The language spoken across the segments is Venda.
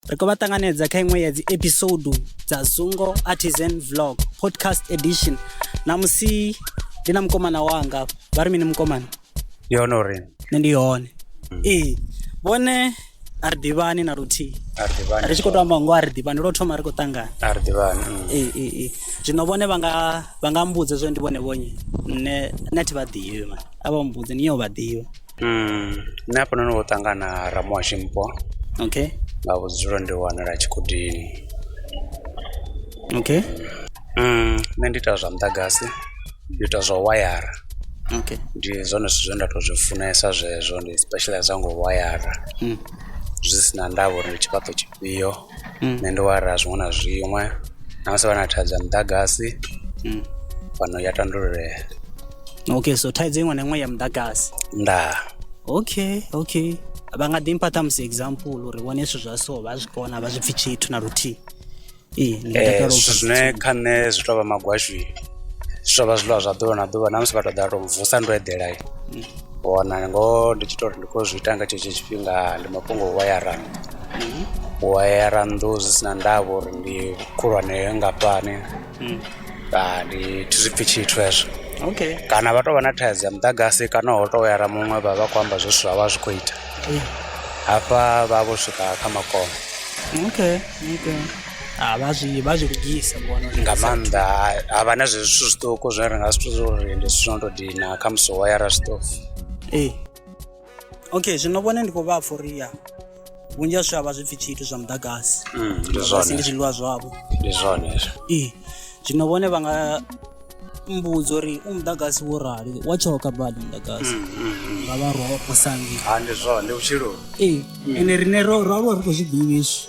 ri khou vha ṱanganedza kha iṅwe ya dzi episode dza zungo artisan vlog podcast edition namusi ndi na mukomana wanga vha ri mini mukomana ndi hone uri nṋe ndi hone mm. ee vhone a ri ḓivhani na luthihi ri tshi khou to amba ngo a ri ḓivhani lwo thoma ri khou ṱangana a ri ḓivhani mm. ee ee ee zwino vhone vha nga vha nga mbudza zwo ndi vhone vhonye nṋe nṋe thi vha ḓivhi mani a vha mbudze ni ya u vha ḓivha Nṋe hafha noni vho ṱangana ra muhasho mupo okay nga vhudzulo ndi wanala Tshikhudini okay nṋe ndi ita zwa muḓagasi ndi ita zwa wayara okay ndi zwone zwithu zwine nda to zwi funesa zwezwo ndi specializer ngo wayara zwi si na ndavha uri ndi tshifhaṱo tshifhio. nṋe ndi wara zwiṅwe na zwiṅwe na musi vha na thaidzo ya muḓagasi fhano ya tandululea. Okay so thaidzo iṅwe na iṅwe ya muḓagasi ndaa. Okay okay vha nga ḓi mpha ṱhamusi example uri vhone zwithu zwa so vha zwi kona vha zwi pfhi tshithu na luthihi. Ee zwithu zwine kha nṋe zwi tovha magwashu zwi tovha zwiḽiwa zwa ḓuvha na ḓuvha na musi vha to ḓa vha to vusa ndo eḓela. wana ngoho ndi tshi tou ri ndi khou zwi ita nga tshetsho tshifhinga ndi mafhungo o wayara nnḓu u wayara nnḓu zwi si na ndavha uri ndi khulwane nngafhani ndi thi zwi pfhi tshithu hezwo okay kana vha tou vha na thaidzo ya muḓagasi kana ho tou wayara muṅwe vha vha khou amba zwe zwithu zwa vha zwi khou ita hafha vha vho swika kha makono okay okay Ha, vha zwi vha zwi lugisa ndi vhona uri nga maanḓa ha vha na zwezwi zwithu zwiṱuku zwine ri nga zwi thusa uri ndi zwithu zwo no tou dina kha musi wo yara zwiṱofu ee okay zwino vhone ndi khou vha pfha uri ya vhunzhi ha zwithu a vha zwi pfhi tshithu zwa muḓagasi Mm, ndi muḓagasi zwone ndi zwiḽiwa zwavho ndi zwone hezwo ee zwino vhone vha nga mbudza uri u muḓagasi wo rali wa tshoka badi muḓagasi nga vha roho posangi ha ndi zwone ndi vhutshiloni ee ende rine ro ro ro ri khou zwi ḓivhi izwi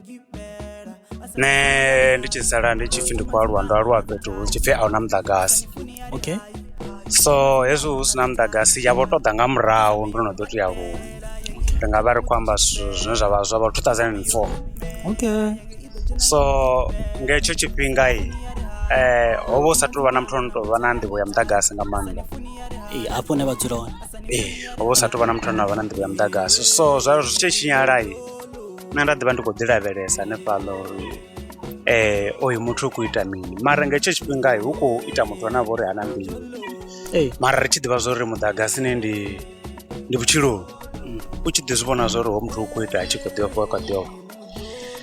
Nṋe ndi tshi sala ndi tshi pfhi ndi khou aluwa ndo aluwa fhethu hu tshi pfhi a hu na muḓagasi okay so hezwi hu si na muḓagasi ya vho tou ḓa nga murahu ndo no ḓo tou ya huṅwe ri nga vha ri khou amba zwithu zwine zwa vha zwa vha two thousand and four okay so nga hetsho tshifhinga ho vha hu sa tou vha na muthu o no tou vha na nḓivho ya muḓagasi nga maanḓa ee hafho hune vha dzula hone ee ho vha hu sa tou vha na muthu ane a vha na nḓivho ya muḓagasi so zwa zwi tshi tshinyala nṋe nda ḓivha ndi khou ḓi lavhelesa hanefhaḽa uri um oyu muthu u khou ita mini mara nga hetsho tshifhinga hu khou ita muthu ane a vha uri hana mbilu mara ri tshi ḓivha zwa uri muḓagasini ndi ndi vhutshiloni mm. u tshi ḓi zwi vhona zwa uri ho muthu u khou ita a tshi khou ḓi ofha kha ḓi ofha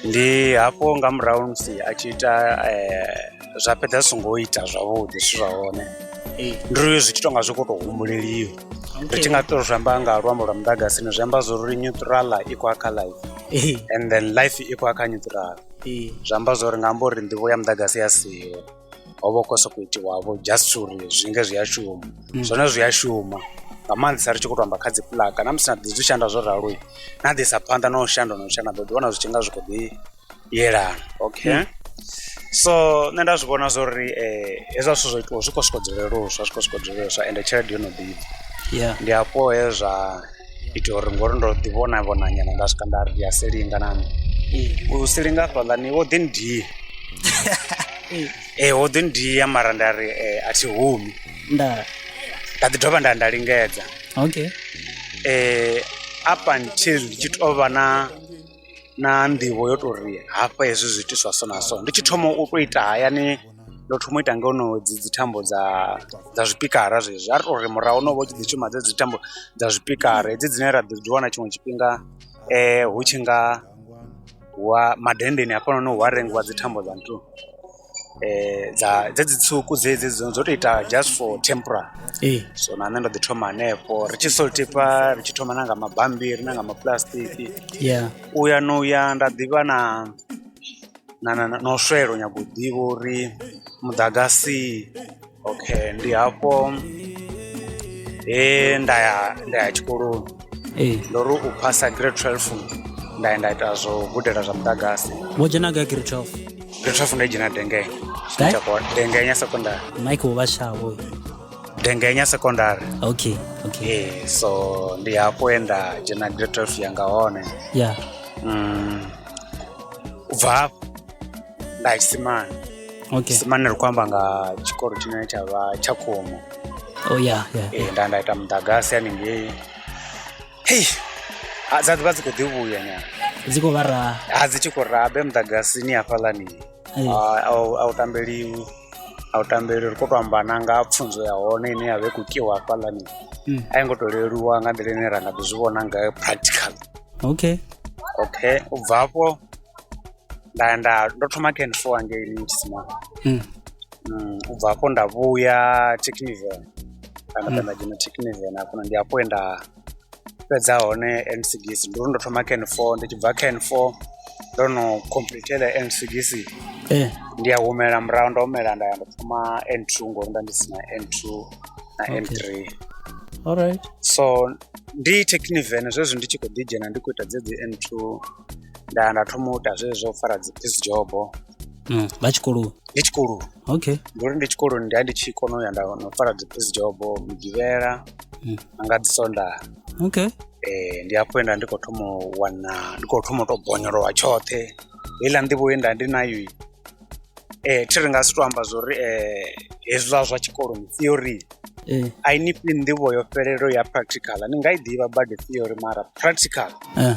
ndi hafho nga murahu musi a tshi ita um zwa fhedza zwi songo ita zwavhuḓi zwithu zwa hone ndi ri zwi tshi tou nga zwi khou tou humbuleliwa ri tshi nga to zwi amba nga luambo lwa muḓagasi ni zwi amba zwo ri neutral i khou kha life eh. and then life i khou kha neutral eh. zwi amba zwo ri nga amba uri nḓivho ya muḓagasi ya siho ho vha khou sokou itiwavho just uri zwi nge zwi a shuma mm. zwone zwi a shuma nga maanḓesa ri tshi khou to amba kha dzi pulaka na musi na ḓi zwi shanda zwo ralo na ḓisa phanḓa na u shanda na u shanda ḓo ḓi wana zwi tshi nga zwi khou ḓi yelana okay mm. so nṋe nda zwi vhona zwo ri um eh, hezwa zwithu zwo itiwa zwi khou swika dzuleluswa zwi khou swika dzuleluswa ende tshelede yo no ḓivha ndi hafho he zwa ita uri ngori ndo ḓi vhona vhona nyana nda swika nda ri ndi a silinga nami mm. u silinga fhaḽani wo ḓi ndiye mm. ee eh, wo ḓi ndiya mara nda ri eh, a thi humi nda nda ḓi dovha nda nda lingedza okay um up until ndi tshi tou vha na na nḓivho yo tou ri hafha hezwi zwi itiswa so na so. Ndi tshi thoma u tou ita hayani ndo thoma u ita nga hono dzi dzi thambo dza dza zwipikara zwezwi. A ri tou ri murahu ho no vha hu tshi ḓi shuma dzedzi thambo dza zwipikara hedzi dzine ra ḓo dzi wana tshiṅwe tshifhinga hu tshi nga wa madenndeni hafhanoni hu a rengiwa dzi thambo dza nṱhuni. dza dzedzi tswuku dzedzi dzo tou ita just for temporary ee so na nṋe ndo ḓi thoma hanefho ri tshi salt pepper ri tshi thoma na nga mabambiri na nga mapuḽasitiki ya u ya no ya nda ḓivha na na na na u swela u nyaga u ḓivha uri muḓagasi okay ndi hafho he nda ya nda ya tshikoloni ee ndo ri u phasa grade 12 nda ya nda ita zwo gudela zwa muḓagasi wo dzhena gai grade 12 grade 12 ndo i dzhena dengenya Gai? Tshakwa- dengenya secondary mike uvha shavo dengenya secondary okay okay ee so ndi hafho he nda dzhena grade 12 yanga hone ya mm, u bva hafho nda tshisimana okay tshisimana ri khou amba nga tshikolo tshine tsha vha tsha khomo oh yeah yeah ee nda nda ita muḓagasi haningei hei ha, dza ḓivha dzi khou ḓi vhuya nyana dzi khou vha raha ha dzi tshi khou rabe muḓagasini hafhaḽani Ee. A- a u- a u tambeliwi a u tambeli ri khou tou amba na nga pfunzo ya hone ine ya vha i khou kiwa hafhaḽani Mm. a i ngo tou leluwa nga nḓila ine ra nga ḓi zwi vhona ngayo practical okay okay u bva afho nda ya nda ndo thoma kha N four hangei Limpopo hmm. hmm, u bva hafho nda vhuya Techniven kana nda nda dzhena Techniven hafho ndi hafho he nda fhedza hone NCGC ndi uri ndo thoma kha N four ndi tshi bva kha N four ndo no completela NCGC eh. ndi a humela murahu ndo humela nda ya ndo thoma N two ngori nda ndi si na N two na N three alright so ndi Techniven zwezwi ndi tshi khou ḓi dzhena ndi khou ita dzedzi N two nda nda thoma u ita zwezwo zwa u fara dzi piece job Mm, vha tshikoloni ndi tshikoloni okay ndi uri ndi tshikoloni ndi a ndi tshi kona u ya nda na u fara dzi piece job migivhela Mm. na nga dzi sondaha okay eh ndi hafho he nda ndi khou thoma u wana ndi khou thoma u tou bonyolowa tshoṱhe heiḽa nḓivho ye nda ndi nayo i, eh thi ri nga si tou amba zwo uri eh hezwiḽa zwa tshikoloni theory eh a i ni fhi nḓivho yo fhelelaho ya practical ni nga i ḓivha badi theory mara practical eh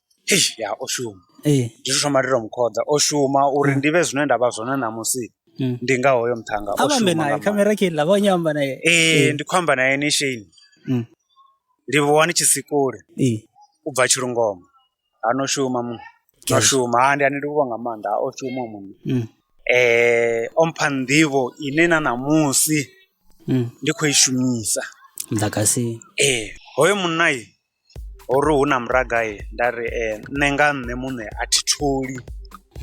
ya o shuma ee ndi tshi thoma ndi to mu khoḓa o shuma uri ndi vhe zwine nda vha zwone ṋamusi Mm. ndi nga hoyo muṱhannga a o vha ambe shuma naye nga maanḓa. khamera khe iḽa vha nyo amba naye ee ndi khou amba naye ni sheni Mm. ndi vuwa ni tshi si kule ee u bva tshilungoma ha no shuma mu no Yes. shuma ha ndi ani ndi vhuvha nga maanḓa ha o shuma muṅwe Mm. eh o mpha nḓivho ine na ṋamusi Mm. ndi khou i shumisa muḓagasi ee hoyo munna Ho ri hu na muraga nda ri nṋe nga nṋe muṋe a thi tholi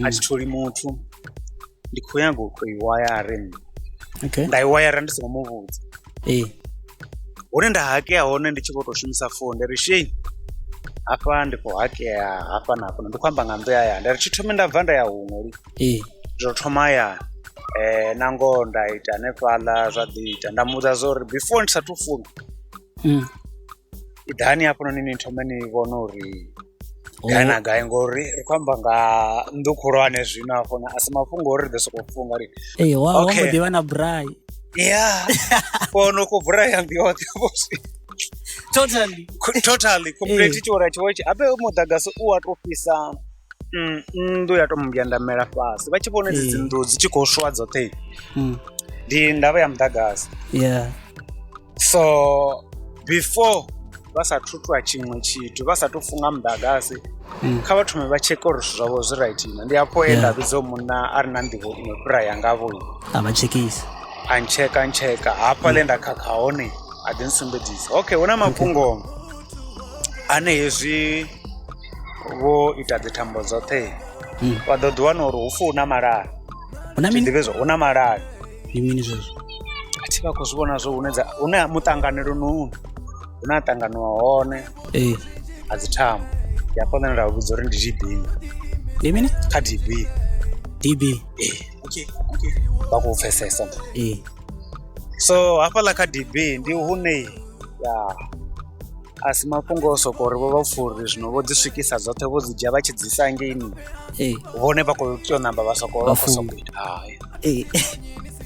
a thi tholi muthu ndi khou nyanga u tou i wayare nṋe okay. nda i wayara ndi songo mu vhudza ee hune nda hakea hone ndi tshi vho tou shumisa founu ndi ri shei hafha ndi khou hakea hafha na hafha ndi khou amba nga nnḓu ya ya nda ri thi thome nda bva nda ya huṅwe li ee zwo thoma ya um na ngoho nda ita hanefhaḽa zwa ḓi ita nda muvhudza zwa uri before ndi sathu funa iḓani hafhanoni ni thome ni vhone uri gai na gai ngori ri khou amba nga nnḓu khulwane zwino hafhona a si mafhungo ori ri ḓo sokou funga ri ee wa wa Okay. mbo ḓi vha na brai ya kono ku vhura ya nnḓu yoṱhe vho zwi totally Ku- totally complete tshiora tshiwo tshi abe muḓagasi u wa tou fhisa mm, nnḓu ya tou mbyandamela fhasi vha tshi vhona dzi Eh. dzi nnḓu dzi tshi khou swa dzoṱhe Mm, ndi ndavha ya muḓagasi yeah so before vha sa thu ṱwa tshiṅwe tshithu vha sa tou funga muḓagasi mm. kha vha thome vha tsheke uri zwithu zwavho zwi right na ndi afho e nda vhidzo munna a re na nḓivho iṅwe fhira yangavho a vha tshekisa a ntsheka ntsheka hafha le nda khakha hone a ḓi nsumbedzisa okay hu na mafhungo ane hezwi vho ita dzithambo dzoṱhe mm. vha ḓo ḓi wana uri hu fu hu na malala hu na malala ndi mini zwezwo a thi vha khou zwi vhona zwo hune dza hune ha muṱanganelo no hune ha ṱanganiwa hone ee a dzi thambo ndi hafho nṋe nda vha vhudza uri ndi tb ndi mini kha db db vha khou pfesesa ee so hafhaḽa kha db ndi hune ya a si mafhungo o soko uri vho vha furi zwino vho dzi swikisa dzoṱhe vho dzi dzhia vha tshi dzi isa ngeini ee vhone vha khou tea u namba vha soko vha khou Vhafunga. soko ita hai ee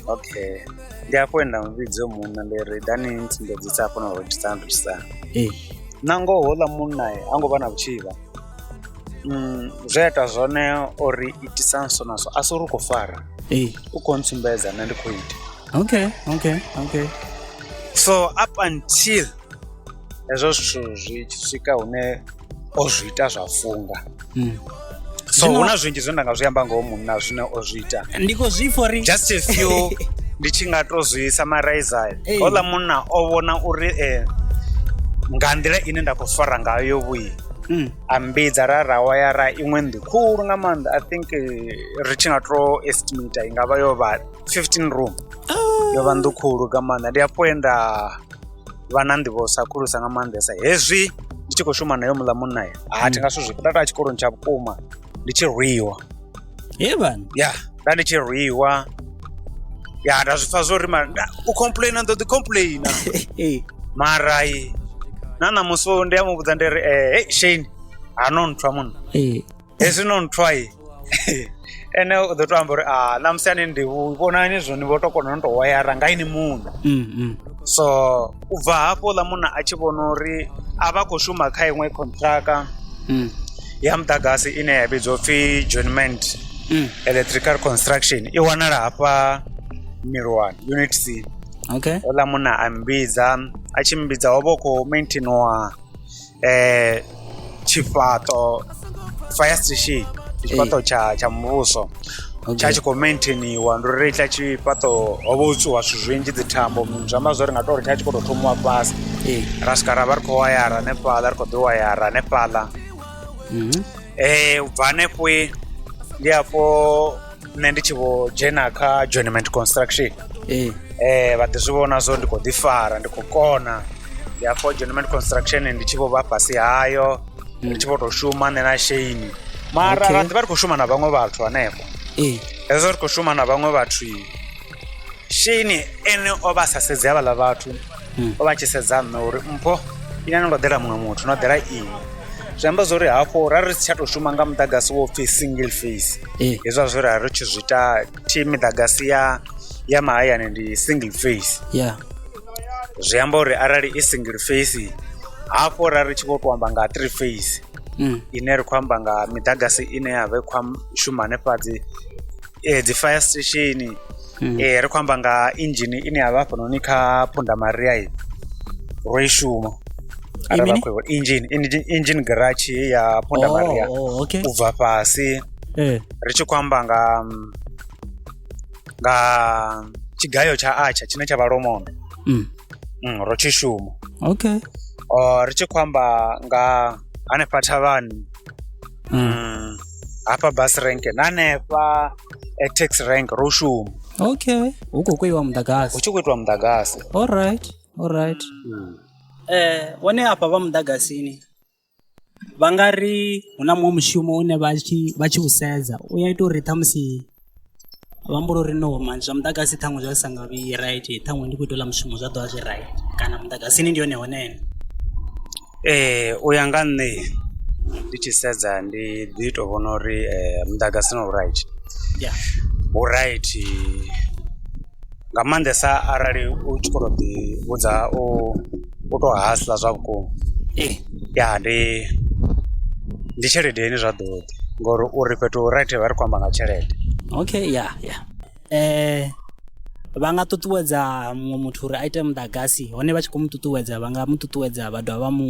okay ndi afho he nda mu vhidza uyo munna ndi ri dani ntsumbedzisa afho na rothisana rothisana ee na ngoho houḽa munna e, ha ngo vha na vhutshivha Mm, zwe a ita zwone o ri itisa nso naso a si uri u khou fara ee u khou ntsumbedza nṋe ndi khou ita okay okay okay so up until hezwo zwithu zwi tshi swika hune o zwi ita zwa funga hmm. so hu na zwinzhi zwine nda nga zwi amba ngoho munna zwine o zwi ita ndi khou zwi fori just a few ndi tshi nga to zwi summarize hola munna o vhona uri eh, nga nḓila ine nda khou fara ngayo vhuyi mm. a mbidza ra ra waya ra iṅwe nnḓu khulu nga maanḓa i think eh, ri tshi nga to estimate i nga vha yo vha 15 room ah. yo vha nnḓu khulu nga maanḓa ndi afho enda vha na nḓivho sa khulusa nga maanḓesa hezwi ndi tshi khou shuma nayo muḽa munna ya ha thi nga zwithu zwi nda taa tshikoloni tsha vhukuma ndi tshi rwiwa hevan ya nda ndi tshi rwiwa ya nda zwi pfa zwo ri u complaina ndo ḓi complaina mara na ṋamusi ndi a mu vhudza ndi ri e shane ha no nthwa munna hezwi no nthwa ye ene u ḓo to amba uri a ṋamusi ani ndi vhonani zwo ni vho to kona no to wayara nga ini muṋe mm, mm. so u bva hafho ḽa munna a tshi vhona uri a vha khou shuma kha iṅwe contractor mm. ya muḓagasi ine ya vhidzwa upfhi joinment mm. electrical construction i wanala hafha milwani unit c okay oḽa munna a mbidza a tshi mbidza ho vha u khou maintainiwa eh, tshifhaṱo fire station ndi tshifhaṱo tsha tsha muvhuso tsha tshi khou maintainiwa ndi uri tsha tshifhaṱo ho vha u tswiwa zwithu zwinzhi dzi thambo zwi amba zwori nga to uri tsha tshi khou tou thomiwa fhasi ra swika ra vha ri khou wayara hanefhaḽa ri khou ḓi wayara hanefhaḽa um u bva hanefho ndi afho nṋe ndi tshi vho dzhena kha joinement construction ee eh, vha ḓi zwi vhona zwo ndi khou ḓi fara ndi khou kona ndi afho joinement construction ndi tshi vho vha fhasi hayo ndi tshi vho tou shuma nṋe na sheini mara Okay. ra ḓi vha ri khou shuma na vhaṅwe vhathu hanefho ee hezwo ri khou shuma na vhaṅwe vhathu sheini ene o vha a sa sedzi havhaḽa vhathu o vha tshi sedza nṋe uri mpho ine no ḓela muṅwe muthu no ḓela ini zwi amba zwori hafho ra ri si tsha tou shuma nga muḓagasi wo pfhi single face eh. hezwa zwe ra ri tshi zwi ita thi miḓagasi ya ya mahayani ndi single face yeah. zwi amba uri arali i single face hafho ra ri tshi vho to amba nga three face mm. ine ri khou amba nga miḓagasi ine ya vha i khou shuma hanefhadzi eh, dzi fire station Mm. eh, ri khou amba nga inzhini ine ya vha hafhanoni kha phunda maria i ro i shuma I mini? inzhini inzhini garage heyi ya phunda maria Oh, oh, okay. u bva fhasi Eh. ri tshi khou amba nga mm, nga tshigayo tsha atsha tshine tsha vha lomondo Mm. mm, ro tshi shuma Okay. Oh, ri tshi khou amba nga hanefha thavhani Mm. mm, hafha bus rank na hanefha eh, tax rank ro shuma okay hu khou kweiwa hu muḓagasi tshi khou itiwa muḓagasi allright allright eh hone afha vha muḓagasini vha nga ri hu na muṅwe mushumo une vha tshi vha tshi u sedza u ya ita uri ṱhamusi vha humbula uri no mani zwa muḓagasi ṱhaṅwe zwa sa nga vhi right ṱhaṅwe ndi khou ita uḽa mushumo zwa ḓovha zwi right kana muḓagasini ndi hone hone ee u ya nga nṋe ndi tshi sedza ndi ḓi to vhona uri muḓagasi no right ya hu right. nga maanḓesa arali u tshi khou tou ḓi vhudza u u tou hasela zwa vhukuma ee ya ndi ndi tshelede ine zwa ḓo ḓi ngori uri fhethu hu right vha ri khou amba nga tshelede. Okay ya ya vha nga ṱuṱuwedza muṅwe muthu uri a ite muḓagasi hone vha tshi kho mu ṱuṱuwedza vha nga mu ṱuṱuwedza vha dovha vha mu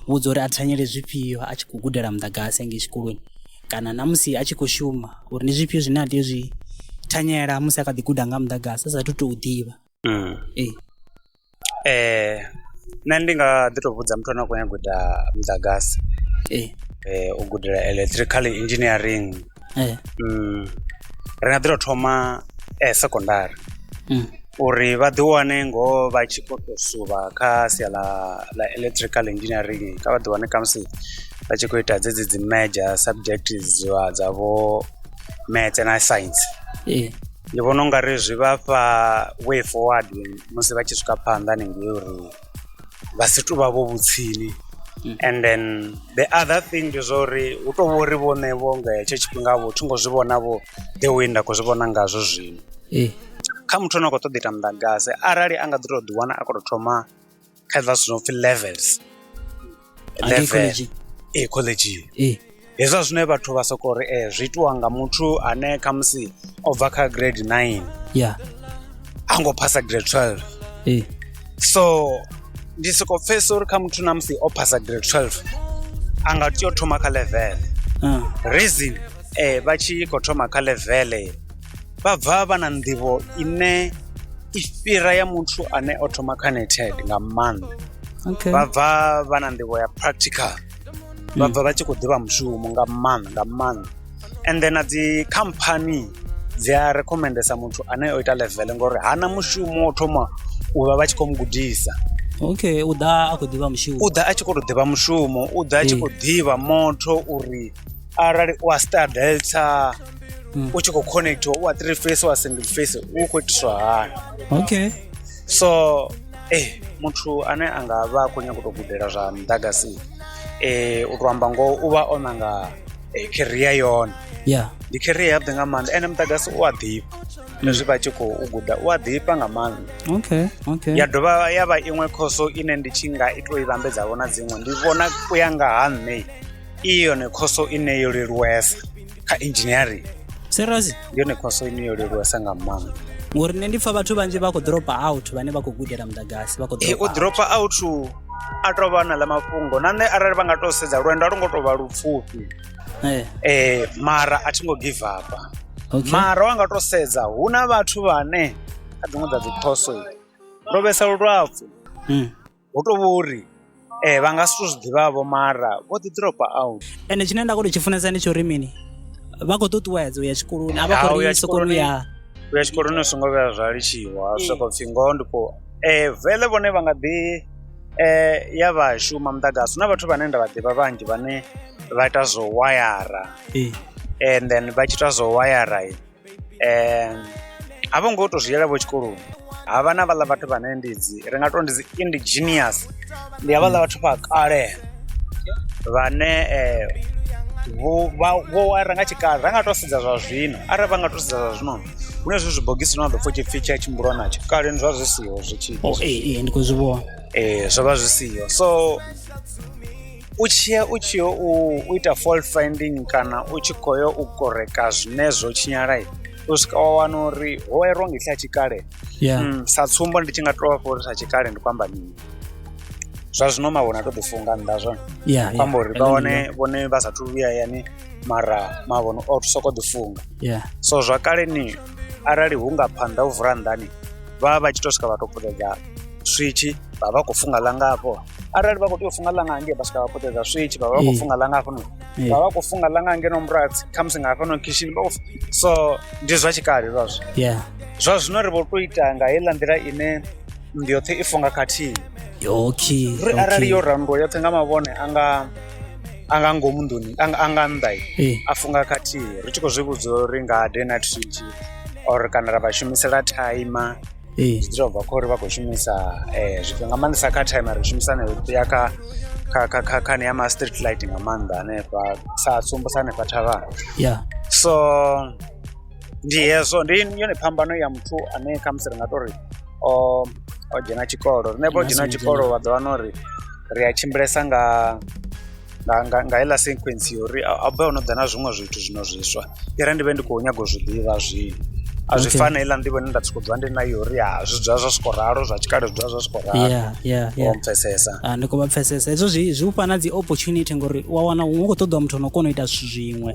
vhudza uri a thanyele zwifhio a tshi khou gudela muḓagasi hangei tshikoloni. kana na musi a tshi khou shuma uri ndi zwifhio zwine a tea u zwi thanyela musi a kha ḓi guda nga muḓagasi a saathu tou ḓivha. Nṋe ndi nga ḓi tou vhudza muthu ane a khou nyanga u ita muḓagasi u gudela electrical engineering ri nga ḓi tou thoma secondary uri vha ḓi wane ngoho vha tshi khou tou suvha kha sia ḽa ḽa electrical engineering kha vha ḓi wane khamusi vha tshi khou ita dzedzi dzi major subject dza dza vho maths na science ee ndi vhona u nga ri zwi vha fha way forward musi vha tshi swika phanḓa hanengei uri vha si tou vha vho vhutsini Mm. and then the other thing ndi zwa uri hu tou vha uri vhone vho nga hetsho tshifhinga vho thi ngo zwi vhona vho the way nda khou zwi vhona ngazwo zwino ee kha muthu ane a khou ṱoḓa u ita muḓagasi arali a nga ḓi tou ḓiwana a khou tou thoma kha zwiḽa zwithu zwo pfhi levels level ee khoḽedzhini ee hezwiḽa zwine vhathu vha soko ri ee zwi itiwa nga muthu ane khamusi o bva kha grade nine ya a ngo phasa grade twelve ee so ndi soko pfhesesa uri kha muthu na musi o phasa grade twelve a nga tea u thoma kha level reason vha tshi khou thoma kha level. vha bva vha na nḓivho ine i fhira ya muthu ane o thoma kha neted nga maanḓa okay. vha bva vha na nḓivho ya practical vha bva vha tshi khou ḓivha mushumo nga maanḓa nga maanḓa and then na dzi company dzi a recommendesa muthu ane o ita level ngori hana mushumo o thoma u vha vha tshi khou mu gudisa okay u ḓa a khou ḓivha mushumo u ḓa a tshi khou tou ḓivha mushumo u ḓa a tshi khou ḓivha motho uri arali u a stardelta mm. u tshi khou connectiwa u wa three face wa single face u khou itiswa hani okay so eh muthu ane a nga vha a khou nyanga u tou gudela zwa muḓagasi eh u tou amba ngoho u vha o nanga eh, career yone yeah ndi career yavhuḓi nga maanḓa ene muḓagasi u a ḓifha mm. hezwi vha tshi khou guda u a ḓifha nga maanḓa okay okay ya dovha ya vha iṅwe khoso ine ndi tshi nga i tou i vhambedza vhona dziṅwe ndi vhona u ya nga ha nṋe i yone khoso ine yo leluwesa kha engineering seriously ndi yone khoso ine yo leluwesa nga maanḓa ngori nṋe ndi pfa vhathu vhanzhi vha khou dropa out vhane vha khou gudela muḓagasi vha khou Eh, u dropa out. dropa out a tou vha na ḽa mafhungo na nṋe arali vha nga tou sedza lwendo a lwo ngo tou vha lupfufhi Eh, eh mara a thi ngo give up okay. mara wa nga tou sedza hu na vhathu vhane kha dziṅwe dza dzikhoso ro vhesa lulapfu Mm. hu tou vha uri um vha nga si tou zwi ḓivhavho mara vho ḓi dropa out ende tshine nda khou tou tshi funesa ndi tsho uri mini vha khou ṱuṱuwedza u ya tshikoloni a vha khou ri sokolo ya u ya tshikoloni u songo vhuya zwa litshiwa zwi sokou pfhi ngoho ndi khou um vele vhone vha nga ḓi um ya vha shuma muḓagasi hu na vhathu vhane nda vha ḓivha vhanzhi vhane vha ita zwo wayara and then vha tshi ita zwo wayara um a vho ngo tou zwi yela vho tshikoloni ha vha na vhaḽa vhathu vhane ndi dzi ri nga tou ndi dzi indigenous ndi ha vhaḽa vhathu vha kale vhane um vho vha vho wara nga tshikale ra nga tou sedza zwa zwino arali vha nga tou sedza zwa zwino hu na zwi zwibogisi zwine wa ḓo pfha u tshi pfhi tshi a tshimbulwa natsho kaleni zwa zwi siho zwi tshi ee ndi khou zwi vhona ee zwo vha zwi siho so u tshiya u tshi yo u ita fault finding kana u tshi khou yo u koreka zwine zwo tshinyala u swika wa wana uri ho erwa nga itsha tshikale mm, sa tsumbo ndi tshi nga tou vhafha uri sa tshikale ndi kwamba mini zwa zwino mavhona a to ḓi funga nnḓa zwone kwamba uri vha wane vhone vha sathu vhuya yani mara mavhono o soko ḓi funga so zwa kaleni arali hu nga phanḓa u vula nḓani vha vha vha tshi to swika vha to puṱedza switch vha vha khou funga ḽanga hafho arali vha khou tea u funga ḽanga hangei vha swika vha puṱedza switch vha vha vha khou funga ḽanga hafho no vha vha khou funga ḽanga ngeno murathi khamusi nga hafha no khishini vha so ndi zwa tshikale zwazwo yeah zwa zwino ri vho to ita nga heiḽa nḓila ine ndi yoṱhe i funga khathihi okay ri arali yo rannduwa yoṱhe nga mavhone anga a nga ngomu nḓuni a nga nnḓa eh. a funga khathihi ri tshi khou zwi vhudza uri nga day night shift or kana ra vha shumisela timer eh. zwi ḓo bva kha uri vha khou shumisa eh, zwifhinga nga maanḓesa kha timer ri shumisa ne ya kha kha kha kha khani ya ma street light nga maanḓa hanefha sa tsumbo sa hanefha thavhana yeah so ndi hezwo ndi yone phambano ya muthu ane khamusi ri nga tori o o dzhena tshikolo riṋe vho dzhena tshikolo vha ḓo wana uri ri a tshimbilesa nga nga nga nga heiḽa sequence yo uri a bva ono ḓa na zwiṅwe zwithu zwino zwiswa i re ndi vhe ndi khou nyaga u zwi ḓivha zwino a zwi fani heiḽa nḓivho ine nda soko dzula ndi nayo uri ya zwi dzula zwa soko ralo zwa tshikale zwi dzula zwa soko ralo yeah yeah yeah pfesesa ah ndi khou vha pfesesa hezwo zwi zwi ufha na dzi opportunity ngori wa wana hu khou ṱoḓwa muthu no kona u ita zwithu zwiṅwe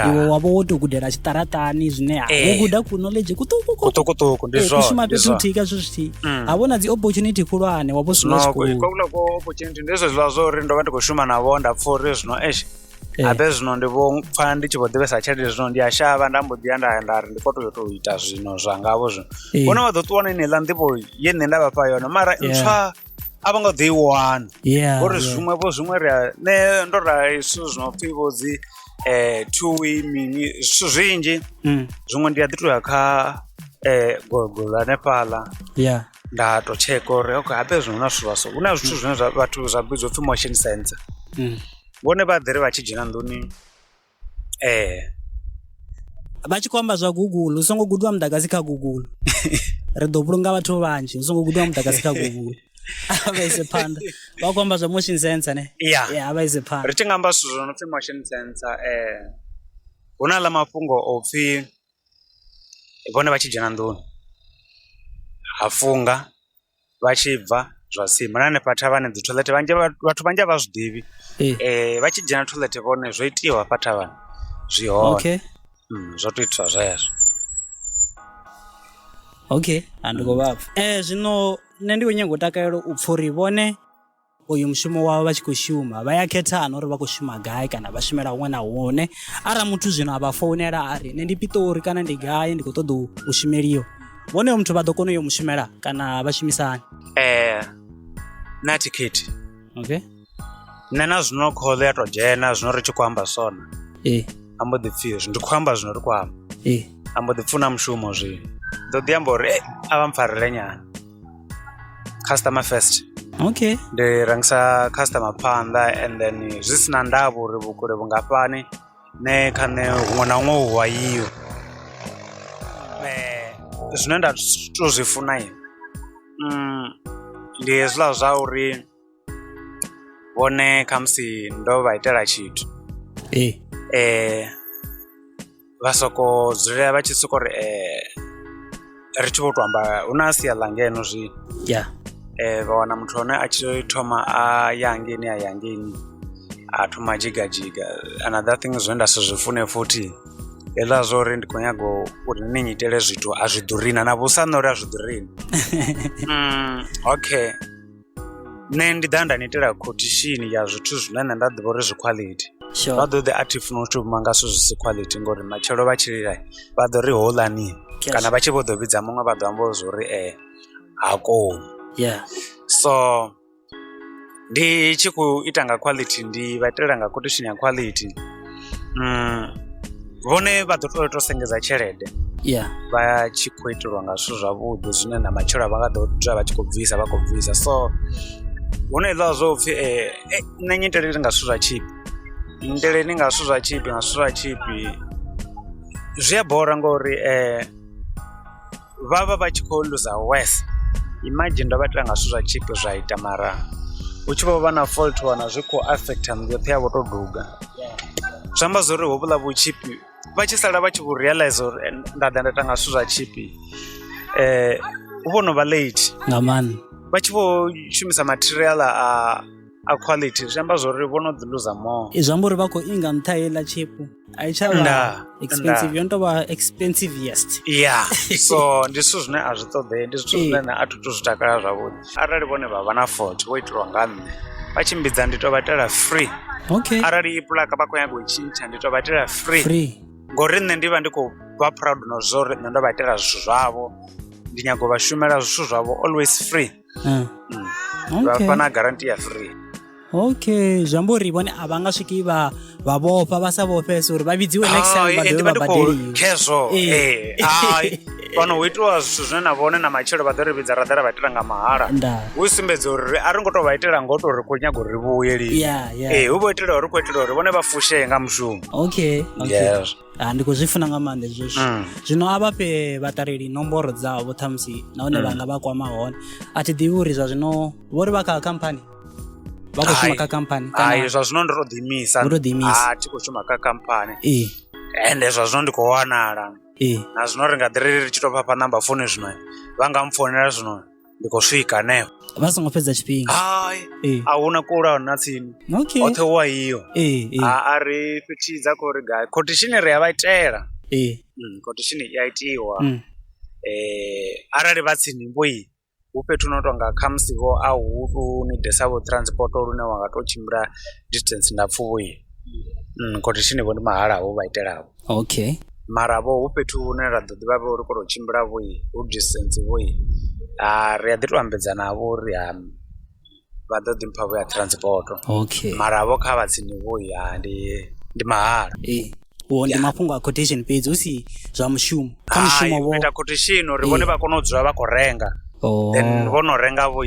iwe wa vha wo tou gudela tshiṱaraṱani zwine ha wo eh. guda ku knowledge kuṱukuṱukuṱukuṱuku ndi eh, zwonshuma fhethu huthihi ka zwithu zwithihi mm. ha vhona dzi opportunity khulwane wa vho swina tshikolokwaula ko opportunity ndi zwe zwiḽa zwa uri ndo vha ndi khou shuma navho nda pfha uri zwino esh eh. abe zwino ndi vho pfha ndi tshi vho ḓivhesa tshelede zwino ndi a shavha nda mbo ḓiya nda nda ri ndi kho toyo tou ita zwino zwa ngavho zwino vhona vha ḓo ṱuwa na ineiḽa nḓivho ye nṋe nda vhafha yone mara ntswa a vho ngo ḓi i wana ngori zwiṅwe vho zwiṅwe ri a nṋe ndo rali zwithu zwi no pfhi vho dzi um two way mini zwithu zwinzhi mm. zwiṅwe ndi a ḓi tou ya kha um gogolo hanefhaḽa nda tou tsheka uri okay habe zwino na zwithu zwaso hu na zwithu zwine vhathu zwa vhidzwa upfhi motion sensor mm. vhone vha ḓiri vha tshi dzhena nḓuni Vha tshi khou amba zwa guguḽu u songo gudiwa muḓagasi kha guguḽu ri ḓo vhulunga vhathu vhanzhi u songo gudiwa muḓagasi kha guguḽu vha ise phanḓa vha khou amba zwa motion sensor ne ya vha ise phanḓa ri tshi nga amba zwithu zwo no pfhi motion sensor hu na ḽa mafhungo o pfhi vhone vha tshi dzhena nḓuni ha funga. vha tshi bva zwa sima na hanefha thavhani dzi toilet vhanzhi vhathu vhanzhi a vha zwi ḓivhi vha tshi dzhena toilet vhone zwo itiwa hafha thavhani zwi hone zwo to itiswa zwezwo okay a ndi khou vha pfha zwino nṋe ndi khou nyanga u takalela u pfha uri vhone. uyu mushumo wavho vha tshi khou shuma vha ya khethana uri vha khou shuma gai kana vha shumela huṅwe na huṅwe arali muthu zwino a vha founela a ri nṋe ndi piṱori kana ndi gai ndi khou ṱoḓa u shumeliwa vhonoyo muthu vha ḓo kona u yo mushumela kana vha shumisani ee eh, na thikhithi okay nṋe na zwino khoḽo ya to dzhena zwino ri tshi khou amba sona ee eh. a mbo ḓi pfhi hezwi ndi khou amba zwino ri khou amba ee eh. a mbo ḓi pfuna mushumo zwino ḓo ḓi amba uri e a vha mpfarele nyana customer first okay ndi rengisa customer phanḓa and then zwi si na ndavha uri vhukule vhungafhani ne kha nṋe huṅwe na huṅwe hu wayiwe um zwine nda to zwi funa mm, ndi hezwiḽa zwa uri vhone khamusi ndo vha itela tshithu ee eh, vha soko dzulela vha tshi soko ri eh, ri tshi vho to amba hu na sia ḽa ngeno zwino ya eh, vha wana muthu hone a tshi thoma a ya ngeni a ya ngeni a thoma a jigajiga another thing zwine nda si zwi fune futhi hezwiḽa zwo uri ndi khou nyaga uri ni nnyitele zwithu a zwi ḓurina na vhusa nṋe uri a zwi ḓurina mm, okay Nṋe ndi ḓa nda ni itela quotation ya zwithu zwine nṋe nda ḓivha uri zwi quality sure vha ḓo ḓi athi funa u shuma nga zwithu zwi si quality ngori matshelo vha tshi lila vha ḓo ri hoḽani Yes. kana vha tshi vho ḓo vhidza muṅwe vha ḓo amba zwo uri eh ha koni yeah so ndi tshi khou ita nga quality ndi vha itela nga quotation ya quality vhone vha ḓo tou tou sengedza tshelede yeah vha tshi khou itelwa nga zwithu zwavhuḓi zwine na matshelo vha nga ḓo dzula vha tshi khou bvisa vha khou bvisa so hu na iḽa zwo pfhi nṋe nyiteleli nga zwithu zwa tshipi nyiteleni nga zwithu zwa tshipi nga zwithu zwa tshipi zwi a bora ngori um vha vha vha tshi khou luza wes imagine ndo vha ita nga zwithu zwa chip zwa ita mara hu tshi vho vha na fault wana zwi khou affecta nnḓu yoṱhe ya vho tou duga zwi amba zwo uri hovhuḽa vhutshipi vha tshi sala vha tshi vho realize uri eh, nda ḓa nda ita nga zwithu zwa tshipi um eh, hu vho no vha late nga maanḓa vha tshi vho shumisa material a a quality zwi amba zwori vho no dzi loser more zwi amba uri vha khou inga nṱha heiḽa tshepu a i tsha vha expensive yo no tou vha expensive yest ya so ndi zwithu zwine a zwi ṱoḓee ndi zwithu zwine na a thu tu zwi takala zwavhuḓi arali vhone vha vha na fort vho itelwa nga nṋe vha tshimbidza ndi tou vha itela free okay arali i pulaka vha khou nyaga u tshintsha ndi tou vha itela free free ngori nṋe ndi vha ndi khou vha proud na zwo uri nṋe ndo vha itela zwithu zwavho ndi nyago vha shumela zwithu zwavho always free Eh. vha Okay. fha na garanti ya free okay zwi amba uri vhone a vha nga swiki vha vha vhofha vha sa vhofhese uri vha vhidziwe next time vha Hai, dovhe ndi vha vha ndi khou badeliwe khezwo Eh. eh, hai. fhano hu itiwa zwithu zwine na vhone na matshelo vha ḓo ri vhidza ra ḓa ra vha itela nga mahala nda hu sumbedza uri a ri ngo to vha itela ngo to ri khou nyaga uri vhuye lini ya ya ee hu vho itela uri khou itela uri vhone vha fushee nga mushumo okay okay Yes. Ah, ndi khou zwi funa nga maanḓa hezwo zwithu Mm. zwino a vha fhe vhaṱaleli nomboro dzavho ṱhamusi nahone vha nga vha kwama hone a thi ḓivhi uri zwa zwino vho ri vha kha khamphani vha khou shuma Hai. kha khamphani kana- hai zwa zwino ndi to ḓiimisa Ndo tou ḓiimisa. Ah, thi khou shuma kha khamphani ee ende zwa zwino ndi khou wanala ee na zwino ri nga ḓi ri ri tshi tou vhafha namba founu zwino vha nga mpfonela zwino ndi khou swika hanefho vha songo fhedza tshifhinga hai ee a huna kula na tsini okay hoṱhe wa iyo ee ee a a ri fhetshi dza khou ri gai khothishini ri a vha itela ee Mm, khothishini i a itiwa Mm. eh arali vha tsini vho i hu fhethu no tonga khamusi vho a hu tu ni desa vho transport lune wa nga to tshimbila distance ndapfu vho i mm, khothishini vho ndi mahala vho vha itelaho okay mara vho hu fhethu hune ra ḓo ḓivha vho ri kho to tshimbila vho i hu distance vho i ri a ḓi to ambedzana vho uri ha vha ḓo ḓi mpha vho ya transport okay mara vho kha vha tsini vho ya ndi ndi mahala ee ndi mafhungo a quotation fhedzi hu si zwa mushumo kha mushumo vho ita quotation uri vhone vha kone u dzula vha khou renga oh. then vho no renga vho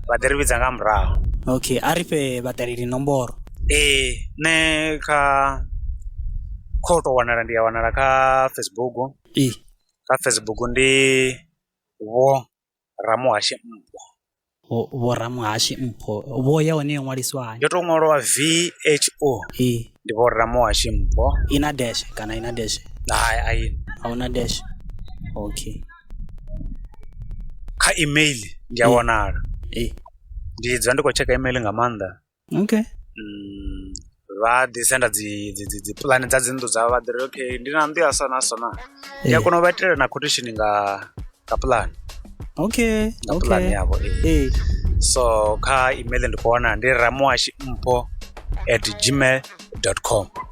vha ḓi ri vhidza nga murahu okay a ri fhe vhaṱaleli nomboro ee nṋe kha kho to wanala ndi a wanala kha facebook ee kha facebook ndi vho Ramuhashe Mpho. Vho Ramuhashe Mpho vho ya hone yo ṅwaliswa hani? Yo tou ṅwalwa VHO. Ee. Ndi vho Ramuhashe Mpho. I na dash kana i na dash? Hai a i. A hu na dash. Okay. Kha email ndi a wanala. Ee. Ndi dzula ndi khou tsheka email nga maanḓa. Okay. vha ḓi senda dzi dzi dzi dzi puḽane dza dzi nnḓu dzavho vha ḓi ri okay ndi na nnḓu ya so na so na ndi a kona u vha itela na quotation nga nga puḽane Okay. nga puḽane Okay. yavho ee. Ee. so kha email ndi khou wana ndi ramuwashi mpho at gmail dot com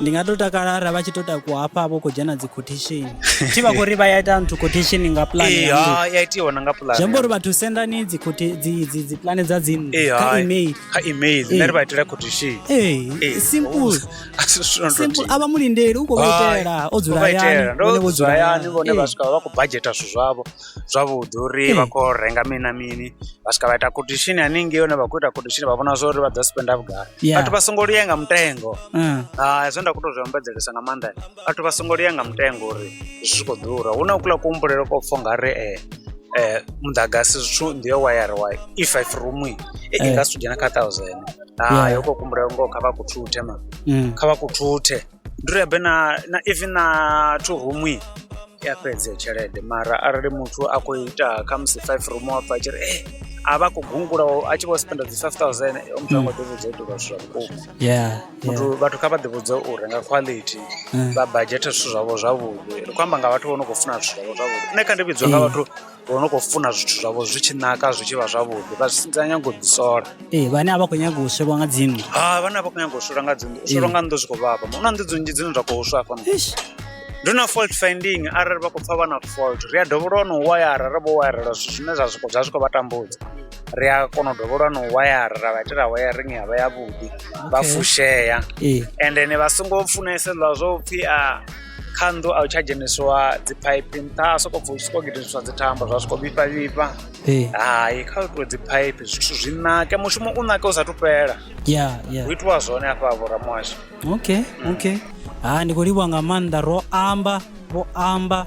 ndi nga to takala ara vha tshi to takuwa hafha vho khou dzhena dzi quotation tshi vha khou ri vha ya ita nthu quotation nga plan ee ya nnḓu. ha ya itiwa na nga zwi amba pulani uri vhathu sendani dzi quota- dzi- dzi- dzi pulane dza dzinnḓu ee kha hai email kha email nṋe ri vha itela quotation Ee, Ee, simple a si zwithu zwo no simple tou- a vha mulindeli u khou vha Hai, itela o dzula vha itela. hayani Ndo vhone vho dzula dzula hayani hayani. vhone vha Ee. swika vha khou bajeta zwithu zwavho zwavhuḓi uri vha khou yo renga mini na mini vha swika vha ita quotation haningei hone vha khou ita quotation vha vhona zwa uri vha ḓo spenda vhugai Yeah. vhathu vha songo lia nga mutengo Mm. Ah, zwe nda khou tou zwi ombedzelesa nga maanḓa vhathu vha songo lia nga mutengo uri zwi tshi khou ḓura hu na kuḽa kuhumbulelo ko pfo nga ri eh, eh, muḓagasi zwithu ndi yo wayara wa i five room i i Eh. nga si dzhena kha thousand Yeah. hayo ko kuhumbulelo ngoho kha vha kuthuthe ma Mm. kha vha kuthuthe Ndi uri habe na na even na two room i a fhedza iyo tshelede mara arali muthu a khou ita khamusi five room wa pfha a tshi ri ee a vha a khou gungula a tshi vho spenda dzi five thousand hoyo muthu a ngo ḓi vhudza u itelwa zwithu zwa vhukuma yeah muthu yeah vhathu kha vha ḓi vhudze u renga quality Mm. vha budget zwithu zwavho zwavhuḓi ri khou amba nga vhathu vho no khou funa zwithu zwavho zwavhuḓi nṋe kha ndi vhidzwa nga Mm. vhathu Ri vha ri khou funa zwithu zwavho zwi tshi naka zwi tshi vha zwavhuḓi vha zwi sia nyanga u ḓi sola. Ee vhane a vha khou nyanga u swelwa nga dzi nnḓu. Hai vhane a vha khou nyanga u swelwa nga dzi nnḓu u swelwa nga nnḓu zwi khou vhavha hu na nnḓu dzi nnzhi dzine dza khou swa hafha nṱha. Ndi na fault finding arali vha khou pfha vha na fault ri a dovholola na u wayara ra vho wayarelwa zwithu zwine zwa zwi zwa zwi khou vha tambudza. Ri a kona u dovholola na u wayara ra vha itela wayaringi ya vha ya vhuḓi vha fushea. Ee. Endeni vha songo funesa hezwiḽa zwa upfhi a. kha nnḓu a hu tsha dzhenisiwa dzi phaiphi nṱha a soko bva u soko gidiswa dzi thambo zwa soko vhifha vhifha hai kha u itiwe dzi phaiphi zwithu zwi nake mushumo u nake u sathu fhela ya ya hu itiwa zwone afha vho ramuhasho okay okay ha ndi khou livhuwa nga maanḓa ro amba vho amba